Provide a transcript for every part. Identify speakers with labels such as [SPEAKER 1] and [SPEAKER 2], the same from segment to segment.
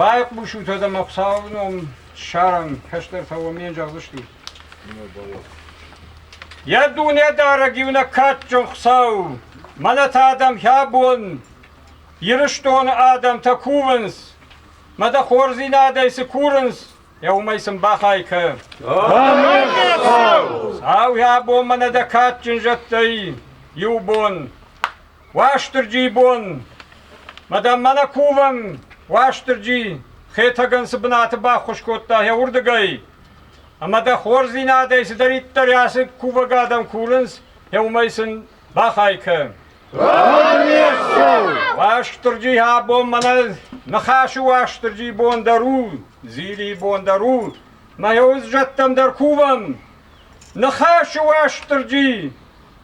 [SPEAKER 1] Байхъусут ӕмӕ Хуыцауы ном ссарӕм, кӕстӕртӕ уӕм не зӕгъдзысты. Йӕ дунедарӕг иунӕг кадджын Хуыцау, мӕнӕ та адӕм хӕ бон, Ирыстоны адӕмтӕ кувынц, мӕ дӕ хорздзинадӕй цы курынц, йӕ уымӕй сын бахай кӕ. Сау хӕ бон мӕнӕ дӕ кадджын зӕдтӕй иу бон. Уастырджи бон! Мадам Манакован Уастырджи Хетӕгӕн цы бынаты баххуыс кодта йӕ уырдыгӕй, ӕмӕ дӕ хорздзинадӕй цыдӕриддӕр ацы кувӕг адӕм курынц, йӕ уымӕй сын бахай кӕ. Уастырджи, абон мӕнӕ ныхасы Уастырджи бон дӕр у, Дзили бон дӕр у, мӕ йӕ уззӕттӕм дӕр кувӕм. Ныхасы Уастырджи,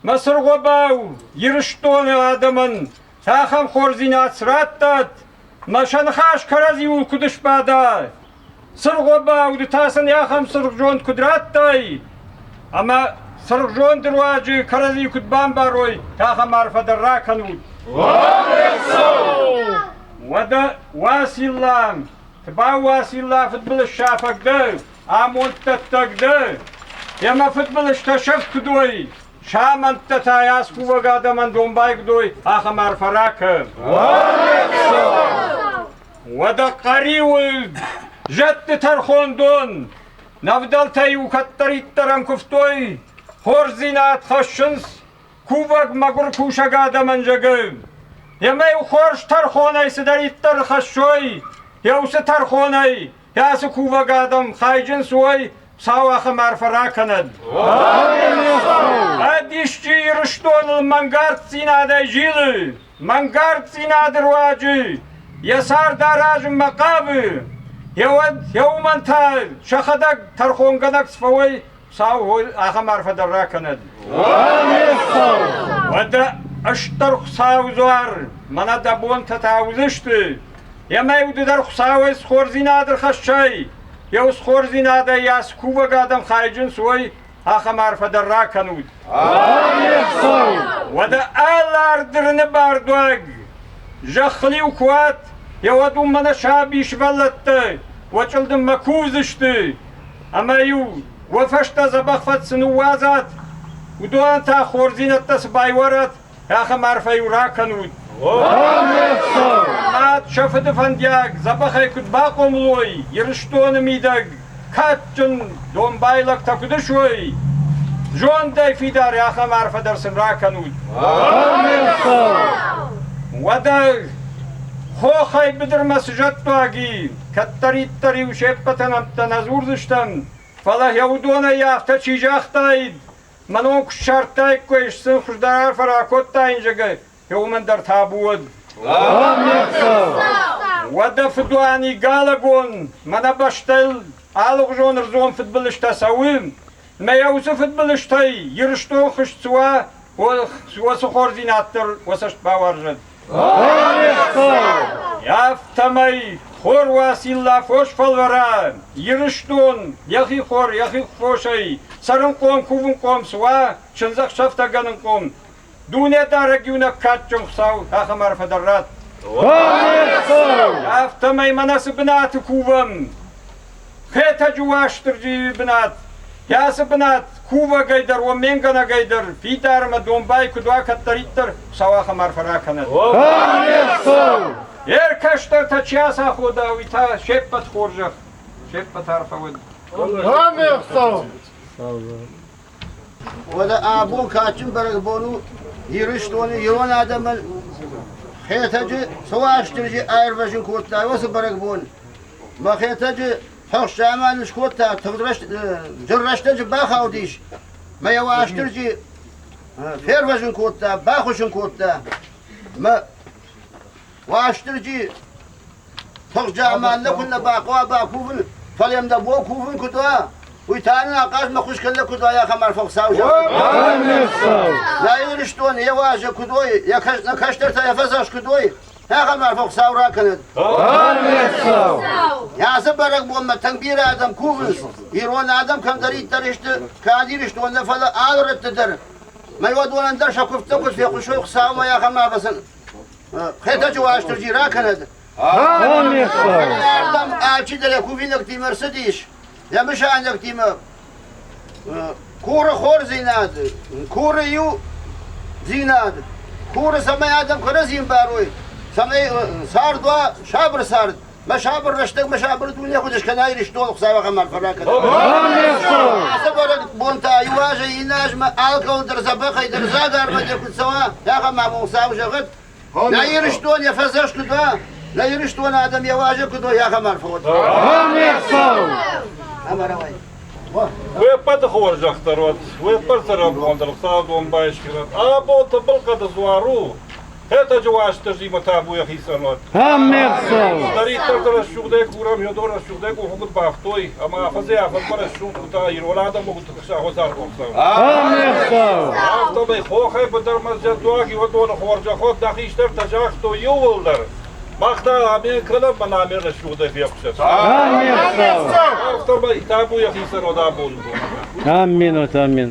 [SPEAKER 1] мӕ цыргъобау Ирыстоны адӕмӕн цахӕм хорздзинад срӕттӕт, мӕ сӕ ныхас кӕрӕдзиуыл куыд ысбада! Цыргъобау, ды та сын ахӕм цыргъзонд куыд радтай, ӕмӕ цыргъзонды руаджы кӕрӕдзи куыд бамбарой, ахӕм арфӕ дӕр ракӕнут! Уӕдӕ Уацилла, цы бауы Уацилла, фыдбылыз сафӕг дӕ, Амонддӕттӕг дӕ! Йӕ мӕ фыдбылызтӕ сӕфт куыд уой! Самӕнттӕ та йӕ аскувӕг адӕмӕн домбай куыд уой, ахӕм арфӕ ракӕн! Уӕдӕ Хъӕриуылд, зӕдты тӕрхондон, нӕвдӕлтӕ-иу кӕддӕриддӕр ӕмкуывтой, хорздзинад хӕссынц, кувӕг мӕгуыр кусӕг адӕмӕн зӕгӕ. Йемӕ-иу хорз тӕрхонӕй цыдӕриддӕр хӕссой, еу цы тӕрхонӕй, Йа цы кувӕг адӕм хайджынц уой, сау ахӕм арфӕ ракӕнӕд! Ӕд исчи Ирыстоныл мӕнгарддзинадӕй зилы, мӕнгарддзинады руаджы йӕ цард аразынмӕ хъавы, йӕ уд, йӕ уымӕн та сӕхӕдӕг тӕрхонгӕнӕг цы фӕуой, Сау гъой ахӕм арфӕ дӕр ракӕнӕд. Уӕдӕ ыстыр Хуцауи дзуар мӕнӕ дӕ бонтӕ та уыдзысты. Емӕ удыдӕр Хуцауӕй схордзинад ӕрхӕссай. Еу схордзинадӕй йас кувӕг адӕм хайджынц уой, ахӕм арфӕ дӕр ракӕнут. Уӕдӕ ӕлардырыны бардуаг зӕххыл-иу куы уат, еуӕд уын мӕнӕ саби сывӕллӕттӕ уӕ чъылдыммӕ кувдзысты. ӕма-иу уой фӕстӕ дзӕбӕх фӕд цы ныууадзат, уыдонӕн та хорздзинӕдтӕ цы байуарат, ахӕм арфӕ-иу ракӕнут. Мад сӕ фыды фӕндиаг дзӕбӕхӕй куыд бахъомылой Ирыстоны мидӕг, кадджын домбайлӕгтӕ куыд ысуой, зондӕй фидар ахӕм арфӕ дӕр сын ракӕнут. Уӕдӕ хохӕй быдырмӕ цы зӕдтуаг и, Кӕддӕриддӕр-иу се ппӕтӕн ӕмттӕ нӕ дзурдзыстӕм, фӕлӕ йӕ уыдонӕй афтӕ чи загътаид, мӕ ном куы ссардтаиккой, сын хуыздӕр арфӕ ракодтаин зӕгӕй, йӕ уымӕн дӕр табу уӕд. Уӕдӕ фыдуани Галагон мӕнӕ бӕстӕйыл алыгъуызон ӕрдзон фыдбылызтӕ цӕуы, Мӕ уыцы фыдбылызтӕй Ирыстон хызт цы уа, уыцы хорздзинад дӕр уӕ цӕст бауарзӕд! Афтӕмӕй хор уа цилла фос фӕлвӕрӕн, Ирыстон йӕхи хор, йӕхи фосӕй цӕрынхъом, кувынхъом цы уа, чындзӕхсӕвтӕгӕнынхъом, Дунедарӕг иунӕг кадджын Хуыцау ахӕм арфӕ дӕр радт. Афтӕмӕй мӕнӕ цы бынаты кувӕм, Хетӕджы Уастырджийы бынат, Кӕцы бынат кувӕгӕй дӕр, омменгӕнӕгӕй дӕр, фидар ӕмӕ домбай куыд уа кӕддӕриддӕр, Хуыцау ахӕм арфӕ ракӕнӕд. Йе ркӕстӕртӕ чи ацахода, уый та се ппӕт хорзӕх, се ппӕт арфӕ уӕд. Уӕдӕ абон кадджын бӕрӕгбон у Ирыстоны ирон адӕмӕн Хетӕджы цы Уастырджи аирвӕзын кодта, уыцы бӕрӕгбон. Мӕ Хетӕджы фӕхсӕмӕн скодта, тыгъд рӕст- зыр рӕстӕджы бахаудис мӕ йӕ Уастырджи фервӕзын кодта, бахуыссын кодта. Мӕ Уастырджи, тыхджа ӕмӕ нӕ куыннӕ бахъуа бакувын, фӕлӕ йӕм дӕ бон кувын куыд уа, уый та нын ахъазмӕ хуыз кӕнӕ куыд уа ахӕм арф Хуыцау зӕгъы. Нӕ Ирыстон йӕ уӕзы куыд уой, йӕ кӕс- нӕ кӕстӕртӕ йӕ фӕдзӕхст куыд уой, ахӕм арф Хуыцау ракӕнӕд. Ацы бӕрӕгбонмӕ тынг бирӕ адӕм кувынц, ирон адӕм кӕмдӕриддӕр сты, кӕд Ирыстон нӕ, фӕлӕ алы рӕтты дӕр. Мӕ уадонӕн дӕр сӕ куывдтӕ куыд фехъусой Хуыцаумӕ, ахӕм арф сын Хедаджы Уастырджи ракӕнӕд! Ардам ачидӕр йӕ кувинӕгтимӕ рцыдис, йӕ мысайнӕгтимӕ куры хордзинад, куры иу дзинад, куры, цӕмӕй адӕм кӕрӕдзийӕн барой, цӕмӕй цард уа сабыр цард, Мӕ сабыр рӕстӕг, мӕ сабыр дунея худ ескӕна Иристони Хуцауӕхӕн арфӕ ракӕнӕн. Ацы бӕрӕг бонтӕ иуазӕй ин азмӕ алкӕуыл дӕр дзӕбӕхӕй дӕр дзагармӕ дӕр куд цӕуа, ахӕм ма мон Хуцау зӕгъӕд. Нӕ Иристон е фӕдзӕхст куд уа, нӕ Иристони адӕм е уазӕг куд уа, ахӕм арфӕ уӕд. Ӕмарӕуай. Уеппӕты хорзӕхдӕр уӕд, уеппӕт сӕрӕбон дӕр Хуцау домбай ескенӕд. Ӕ бон тӕбӕл кӕд зуар у, Хетӕджы уастырджимӕ табу йӕхицӕн уӕд. Аммерсал! Кӕддӕриддӕр дӕр рӕсугъдӕй курӕм, еу дон рӕсугъдӕй къуфгут бафтой, ӕма афӕдзи афӕдзмӕ рӕсугъд утӕ ирон адӕмон сагъуӕдар кодтам. Аммерсал! Афтӕмӕй хохӕй быдыр мӕзджӕдуаг иуӕдоны хорзӕход нӕ хистӕртӕ загътой иууылдӕр, мах та амин кӕнӕм мӕ намер рӕсугъдӕй фехъусӕт. Аммерсал! Афтӕмӕй табу йӕхицӕн уӕд абоны бонмӕ. Аммин, вот аммин.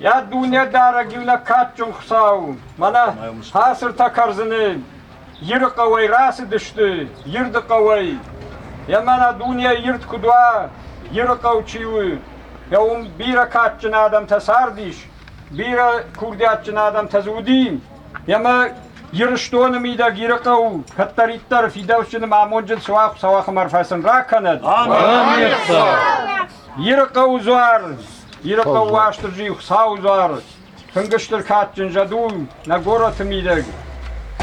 [SPEAKER 1] Йа дунедарӕг иу лӕггадджын Хуыцау, мӕнӕ хацыртӕ кӕрдзыны Иры хъӕуӕй рацыдысты, Ирды хъӕуӕй. Йа мӕнӕ дунейы ирд куыд уа, Иры хъӕу чи у, йа уым бирӕ кадджын адӕмтӕ цардис, бирӕ курдиатджын адӕмтӕ дзы уыди. Йемӕ Ирыстоны мидӕг Иры хъӕу кӕддӕриддӕр фидауджын ӕмӕ амонджын суа Хуыцау ахӕм арфӕ сын ракӕнӕд. Амин. Ирыхъӕуы дзуар, Ирыхъӕу Уастырджи, Хуыцауы дзуар, тынг стыр кадджын зӕд у нӕ горӕты мидӕг,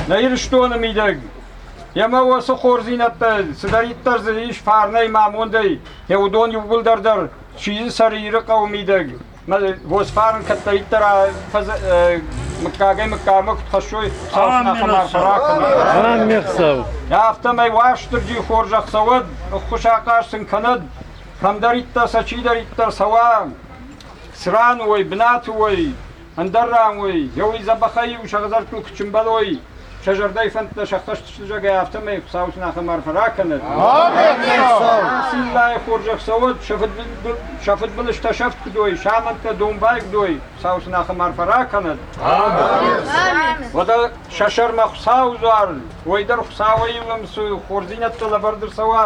[SPEAKER 1] нӕ Ирыстоны мидӕг. Емӕ уоцы хорздзийнӕдтӕ цыдӕриддӕр дзы ис фарнӕй ма амондӕй, е уыдон иууылдӕр дӕр сидзы цӕры Иры хъӕуы мидӕг. Восфарын кӕддӕриддӕр мыггагӕй мыггагмӕ куыд хӕссой Хуыцауы марфӕ ракӕнын. Афтӕмӕй Уастырджи хорзӕх цӕуӕд, ӕххуысахъаз сын кӕнӕд, Кӕмдӕриддӕр сӕ чидӕриддӕр цӕуа, цран уой, бынаты уой, ӕндӕр ран уой, еуи дзӕбӕхӕй-еу сӕ хӕдзӕрттыл куы чымбӕлой, сӕ зӕрдӕйы фӕндтӕ сӕххӕст сызӕгӕй, афтӕмӕй Хуыцау сынахӕм арфӕ ракӕнӕд. Циллайы хорзӕх цӕуӕд, сӕ фыдбыл- сӕ фыдбылызтӕ сӕфт куыд уой, самӕнттӕ домбай куыд уой, Хуыцау сынахӕм арфӕ ракӕнӕд. Уӕдӕ сӕ сӕрмӕ Хуыцауы дзуар, уой дӕр Хуыцауӕй ӕмӕ хорздзинӕдтӕ лӕвӕрд ӕрцӕуа,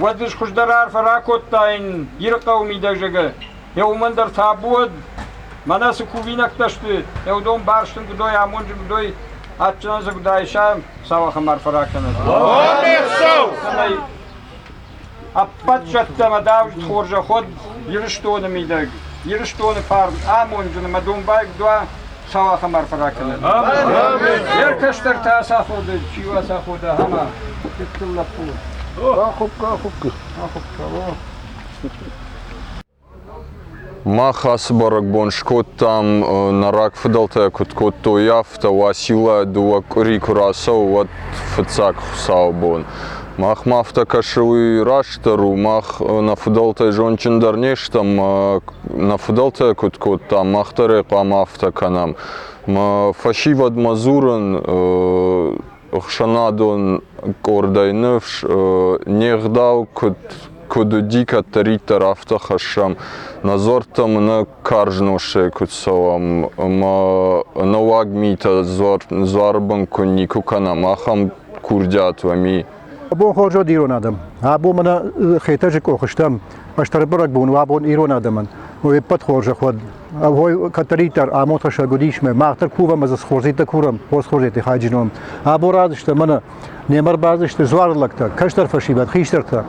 [SPEAKER 1] Уӕд исхуздӕр арфӕ ракодтаин Ирыхъӕуы мидӕгзӕгӕ. Е уомӕн дӕр табу уӕд, мӕнӕ цы кувинӕгтӕ сты, еу дон барстин гудой, амонджи гудой, адджинӕн сӕ гуда иса, сауӕхӕн арфӕ ракӕнӕд. Цӕмӕй ӕппӕт зӕдтӕмӕ давид хорзӕход Ирыстоны мидӕг, Ирыстоны фарн, амонджын ӕмӕ домбай гудуа, сау ахӕм арфӕ ракӕнӕд. Йӕ кӕстӕртӕ ацаходы, чи ацаходы, ахӕм фыдтыл лӕппу. Ахуыпка, ахуыпка, ахуыпка, Мах ацы бӕрӕгбон скодтам, нӕ рагфыдӕлтӕ куыд кодтой, афтӕ Уацилла дыууӕ къуыри куы рацӕуы, уӕд фыццаг хуыцауы бон. Махмӕ афтӕ кӕсы, уый растдӕр у. Мах нӕ фыдӕлтӕй зондджындӕр не стӕм, нӕ фыдӕлтӕ куыд кодтам, мах дӕр ӕй хъуамӕ афтӕ кӕнӕм. Фӕсивӕдмӕ дзурын ӕхсӕнадон къордӕй ныфс, не гъдау куыд куыд уыди кӕддӕриддӕр, афтӕ хӕссӕм. Нӕ дзуӕрттӕ мын карз носсӕй куыд цӕуӕм, ӕмӕ нӕуӕг митӕ дзуары бын куы никуы кӕнӕм, ахӕм курдиат уӕми. Абон хорзод ирон адӕм. Абон мӕнӕ хетӕджы къох стӕм, хъӕстӕрбӕрӕг бон у абон ирон адӕмӕн. Еппӕт хорзӕх уӕд. Ой, кӕддӕриддӕр амотасӕг уыдисмӕ, мах дӕр кувӕм ӕз хорзитӕ курӕм, хорз хорзити хайджином. Або радзысты мӕнӕ, немӕ рбадзысты дзуары лӕгтӕ, кӕстӕр фӕсивӕд, хистӕртӕ.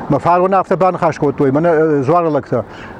[SPEAKER 1] Мӕ фарон афтӕ баныхас кодтой, мӕнӕ дзуары лӕгтӕ.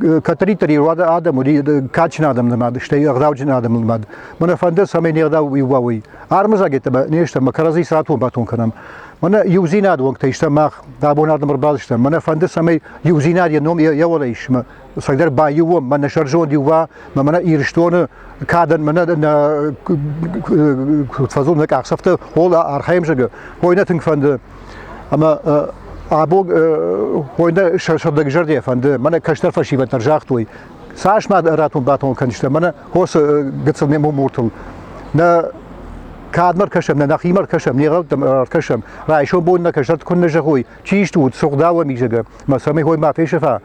[SPEAKER 1] кӕддӕриддӕр иу адӕм уыди кадджын адӕмнымад, стӕй ӕгъдауджын адӕмнымад. Мӕнӕ фӕнды, цӕмӕй не гъдау уа уый. Армыдзагеттӕ не стӕм, кӕрӕдзи цы атон-батон кӕнӕм. Мӕнӕ иудзинад уӕнгтӕй стӕм мах, абон адӕм ӕрбалыстам. Мӕнӕ фӕнды, цӕмӕй иудзинад йӕ ном йӕ уӕлӕ ис. Мӕ цӕгдӕр баиу уӕм, мӕнӕ сӕрзонд иу уа, мӕнӕ Ирыстоны кадӕн мӕнӕ фӕзон нӕ къахдзӕфтӕ хол архайӕм зӕгы. Хойы нӕ тынг фӕнды Ӕмӕ абог хойны сӕрдӕгзӕрдӕ фӕнды, мӕнӕ кӕстӕр фӕсивӕд дӕр загътой, цас ма ратон-батон кӕндзыстӕ, мӕнӕ хосы гыццыл ме муртыл. Нӕ кӕдмӕ ӕркӕсӕм, нӕ нӕхимӕ ӕркӕсӕм, не гъӕуттӕм ӕркӕсӕм, райсом бон нӕ кӕсӕрт куыннӕ зӕгъой, чи стут, сугъдауӕм изӕгӕ, мӕ цӕмӕй хой ма фесӕфа,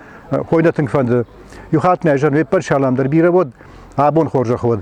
[SPEAKER 1] хой нӕ тынг фӕнды. Иу хатт нӕ зӕн ме ппӕт салам дӕр бирӕ уӕд, абон хорзӕх уӕд.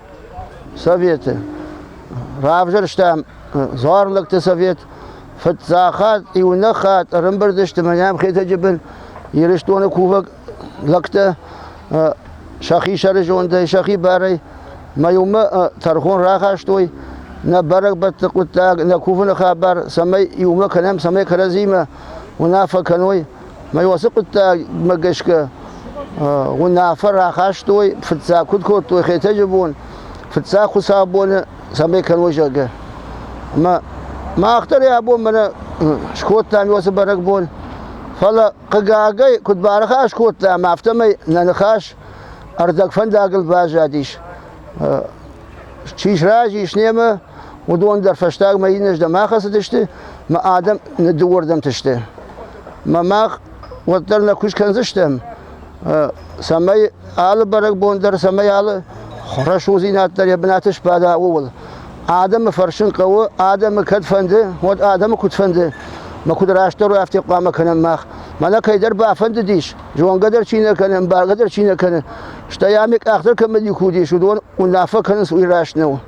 [SPEAKER 1] советы. Равзӕрстам Дзуарлӕгты совет, фыццахат, иунӕг хатт ӕрӕмбырд сты мӕнӕм Хетӕджы бын Ирыстоны кувӕг лӕгтӕ сӕхи сӕрызондӕй, сӕхи барӕй мӕ иумӕ тӕрхон рахастой нӕ бӕрӕгбӕтты хъуыддаг, нӕ кувыны хабар, цӕмӕй иумӕ кӕнӕм, цӕмӕй кӕрӕдзимӕ уынаффӕ кӕной, Мӕ уацы хъуыддагмӕ гӕсгӕ уынаффӕ рахастой, фыццаг куыд кодтой Хетӕджы бон, фыццаг хуыцаубоны, цӕмӕй кӕной, зӕгъгӕ. Ӕмӕ мах дӕр йӕ бон мӕнӕ скодтам уацы бӕрӕгбон, фӕлӕ, хъыгагӕй, куыд барахас кодтам, афтӕмӕй нӕ ныхас ӕрдӕг фӕндагыл баззадис. чи сразы ис немӕ, уыдон дӕр фӕстагмӕ иннӕрдӕм ахӕцыдысты, мӕ адӕм ныддыууӕрдӕмты сты. Мӕ мах уӕддӕр нӕ куыст кӕндзыстӕм, цӕмӕй алы бӕрӕгбон дӕр, цӕмӕй алы рӕсугъддзинад дӕр йӕ бынаты сбада, ууыл. Адӕмы фӕрсын хъӕуы, адӕмы кӕд фӕнды, уӕд адӕмы куыд фӕнды, мӕ куыд растдӕр уый афтӕ хъуамӕ кӕнӕм мах. Мӕнӕ кӕйдӕр бафӕндыдис, Зонгӕ дӕр чи нӕ кӕны, бӕргӕ дӕр чи нӕ кӕны. Стӕй ами къахдӕр кӕмӕ ди кудис, уыдон уынаффӕ кӕнынц уый раст нӕу.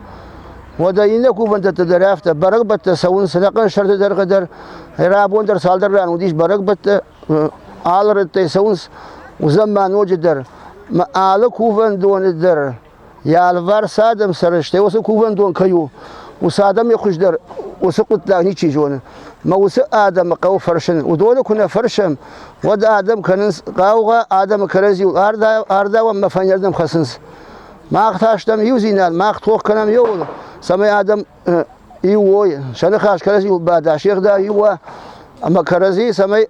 [SPEAKER 1] Уӕдӕ иннӕ кувӕндӕттӕ дӕр афтӕ, бӕрӕгбӕттӕ цӕуынц, ӕнӕхъӕн сӕрты дӕргъы дӕр, рӕбон дӕр цалдӕр ран уыдис бӕрӕгбӕттӕ, алы рӕттӕй цӕуынц, уыдзӕн ма ноджыдӕр. Ма алы кувӕндоны дӕр йӕ алыварс адӕм сӕрыстӕй уыцы кувӕндон кӕй у, уыцы адӕм йӕ хуыздӕр уыцы хъуыддаг ничи зоны. Мӕ уыцы адӕмы хъӕуы фӕрсын. Уыдоны куы нӕ фӕрсӕм, уӕд адӕм кӕнынц хъаугъа, адӕмы кӕрӕдзиуыл ардауӕм ӕмӕ фӕйнӕрдӕм хӕцынц. Мах та стӕм иудзинад, мах тох кӕнӕм иууыл, цӕмӕй адӕм иу уой, сӕ ныхас кӕрӕдзиуыл бада, се гъдау иу уа, ӕмӕ кӕрӕдзи, цӕмӕй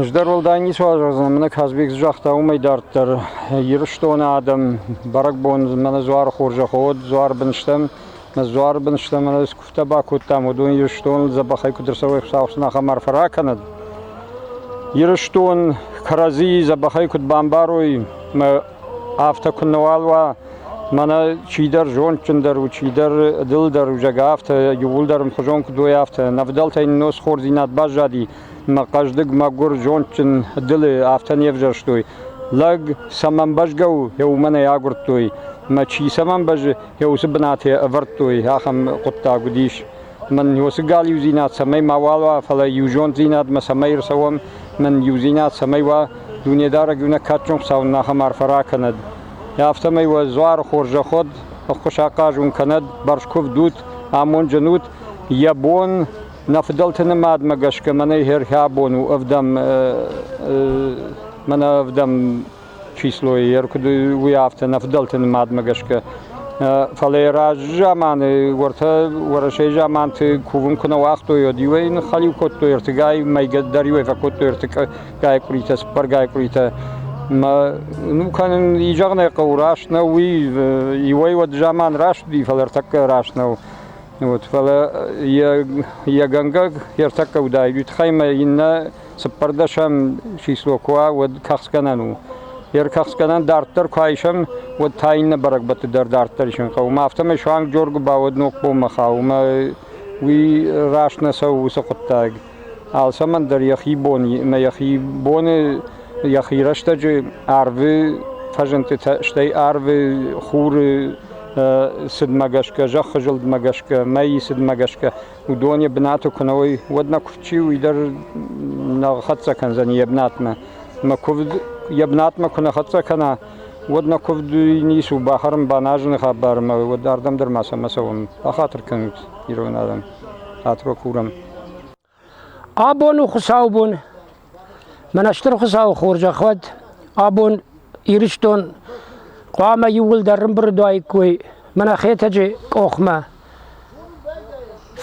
[SPEAKER 1] Ӕз дӕр уӕлдай ницы уарзон, мӕнӕ Казбек цы загъта, уымӕй дарддӕр. Ирыстоны адӕм бӕрӕгбон мӕнӕ дзуары хорзӕх уыд, дзуары бын стӕм. Мӕ дзуары бын стӕм, мӕнӕ цы куывтӕ бакодтам, уыдон Ирыстоныл дзӕбӕхӕй куыд ӕрцӕуой Хуыцауӕн ахӕм арфӕ ракӕнӕд. Ирыстон кӕрӕдзийы дзӕбӕхӕй куыд бамбарой, мӕ Афтӕ куыннӕуал уа, мӕнӕ чидӕр зондджындӕр у, чидӕр дылдӕр у, зӕгъгӕ, афтӕ иууылдӕр ӕмхуызон куыд уой, афтӕ. Нӕ фыдӕлтӕй нын схордзинад баззади, мӕ хъӕздыг, мӕгуыр, зондджын дылы афтӕ не взӕрстой. Лӕг цӕмӕн бӕзгӕ у, йӕ уымӕн ӕй агуырдтой. Мӕ чи цӕмӕн бӕзы, йӕ уыцы бынаты ӕвӕрдтой, ахӕм хъуыддаг уыдис. Нӕн уоси галиудзийнад цӕмӕй мауал уа, фалӕ еузонддзийнадмӕ цӕмӕй ӕрцӕуӕм, нӕн еудзийнад цӕмӕй уа, дунедарӕг еунӕг кадджын Хуцау нин ахӕм арфӕ ракӕнӕд. Афтӕмӕй уӕ дзуар хорзӕхуд, ӕххуыс ахъаз ун кӕнӕд, бӕрзкувдут, амондджынут. Йӕ бон нӕ фыдӕлты нымадмӕ гӕсгӕ мӕнӕй хӕрхӕбон у ӕвдӕм мӕнӕ ӕвдӕм числойы йӕ куыд уый афтӕ нӕ фыдӕлты нымадмӕ гӕсгӕ. Фӕлӕ раззаманы уӕртӕ Уӕрӕсейы заманты кувын куы нӕ уагътой, уӕд иуӕй ныххӕлиу кодтой, ӕртыгай мӕйгӕ дӕр иуӕй фӕкодтой ӕртыгай къуыритӕ, цыппӕргай къуыритӕ. Мӕ ну кӕнын и зӕгъын ӕй хъӕуы, раст нӕу уый, иуӕй уӕд заман раст уыди, фӕлӕ ӕртӕккӕ раст нӕу. Вот, фӕлӕ йӕ, йӕ гӕнгӕ ӕртӕккӕ уыдаид, уый тыххӕй мӕ иннӕ Цыппӕрдӕсӕм число куы уа, уӕд кӕхцгӕнӕн у. Йе ркӕхцгӕнӕн дарддӕр куы айсӕм, уӕд та иннӕ бӕрӕгбӕтты дӕр дарддӕр исын хъӕуы. Афтӕмӕй суанг Джоргуы бауӕд ногпоммӕ хауы, ӕмӕ уый раст нӕ цӕуы уыцы хъуыддаг. Алцӕмӕн дӕр йӕхи бон ӕмӕ йӕхи боны, йӕхи рӕстӕджы арвы фӕзындтытӕ, стӕй арвы хуры цыдмӕ гӕсгӕ, зӕххы зылдмӕ гӕсгӕ, мӕйы цыдмӕ гӕсгӕ уыдон йӕ бынаты куы нӕ уой, уӕд нӕ куывдчи уый дӕр нӕ хӕццӕ кӕндзӕн йӕ бынатмӕ. Мӕ куывд йӕ бынатмӕ куы нӕ хӕццӕ кӕна, уӕд нӕ куывд ницы у, бахӕрын, баназыны хабар ӕмӕ уӕд ардӕм дӕр ма сӕмӕ цӕуӕм. Бахатыр кӕнут ирон адӕм, Атро Курам. Абон у хуыцаубон. Мӕн Стырхуцауы хорзӕх уӕд, абон Ирыстон хъуамӕ иууылдӕр рымбырд уаиккой мӕнӕ Хетӕджы къохмӕ.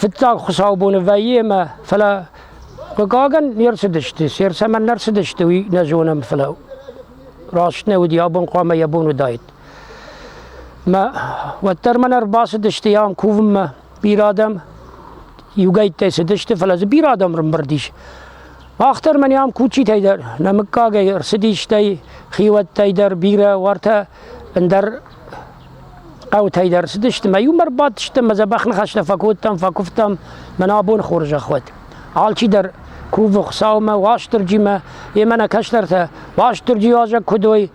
[SPEAKER 1] Фыццаг хуыцаубоны вӕййы ӕмӕ фӕлӕ хъыгагӕн не рцыдысты, се рцӕмӕн не рцыдысты, уый нӕ зонӕм, фӕлӕ раст нӕ уыди, абон хъуамӕ йӕ бон уыдаид. Мӕ уӕддӕр мӕн ӕрбацыдысты ам кувынмӕ Бирӕ адӕм иугӕйттӕй цыдысты, фӕлӕ дзы бирӕ адӕм рымбырд ис. Мах дӕр мӕниам кучитӕй дӕр, нӕмыггагӕй ӕрцыдистӕй, хиуӕттӕй дӕр бирӕ уартӕ ӕндӕр хъӕутӕй дӕр цыдысты. Мӕ иумӕ ӕрбадтыстӕм, мӕ дзӕбӕх ныхӕстӕ фӕкодтам, фӕкуывтам, мӕнӕ абон хорзӕх уӕд. Алчидӕр кувы Хуыцаумӕ, Уастырджимӕ, йемӕ нӕ кӕстӕртӕ Уастырджи уазӕг куыд уой,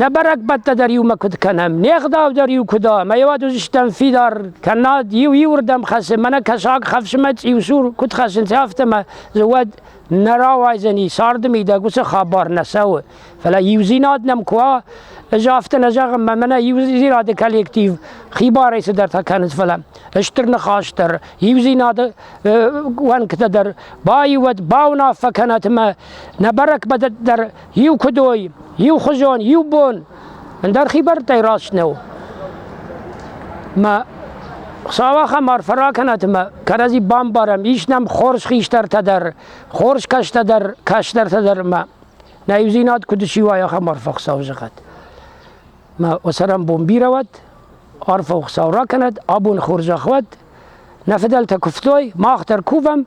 [SPEAKER 1] Нӕ бӕрӕгбӕттӕ дӕр иумӕ куыд кӕнӕм, не гъдау дӕр иу куыд у, ӕмӕ ӕй уӕд уыдзыстӕм фидар, кӕннод иу иуырдӕм хӕссын, мӕнӕ кӕсаг хӕфсынмӕ цъиусур куыд хӕссынц, афтӕмӕ дзы уӕд нӕ рауайдзӕни, царды мидӕг уыцы хабар нӕ цӕуы. Фӕлӕ иудзинад нӕм куы уа, ӕз афтӕ нӕ зӕгъын, мӕ мӕнӕ иудзинады коллектив хибарӕй цыдӕртӕ кӕнынц, фӕлӕ стыр ныхас дӕр, иудзинады уӕнгтӕ дӕр баиуӕд, бауынаффӕ кӕнӕт ӕмӕ Нӕ бӕрӕгбӕдӕ дӕр иу куд уой, иухузон, иу бон, ӕндӕр хибӕрттӕй раст нӕу. Ма Хуцауӕхӕн арфӕ ракӕнӕт ӕма кӕрӕдзи бамбарӕм, ис нӕм хорз хистӕртӕ дӕр, хорз кӕстӕ дӕр, кӕстӕртӕ дӕр, ӕма нӕ еудзийнад куд исси, уай ахӕм арфӕ Хуцау зӕгъӕт. Ма уосӕрӕнбон бирӕ уӕд, арфӕ Хуцау ракӕнӕд, абони хорзӕх уӕд, нӕ фидӕлтӕ кувтой, мах дӕр кувӕм,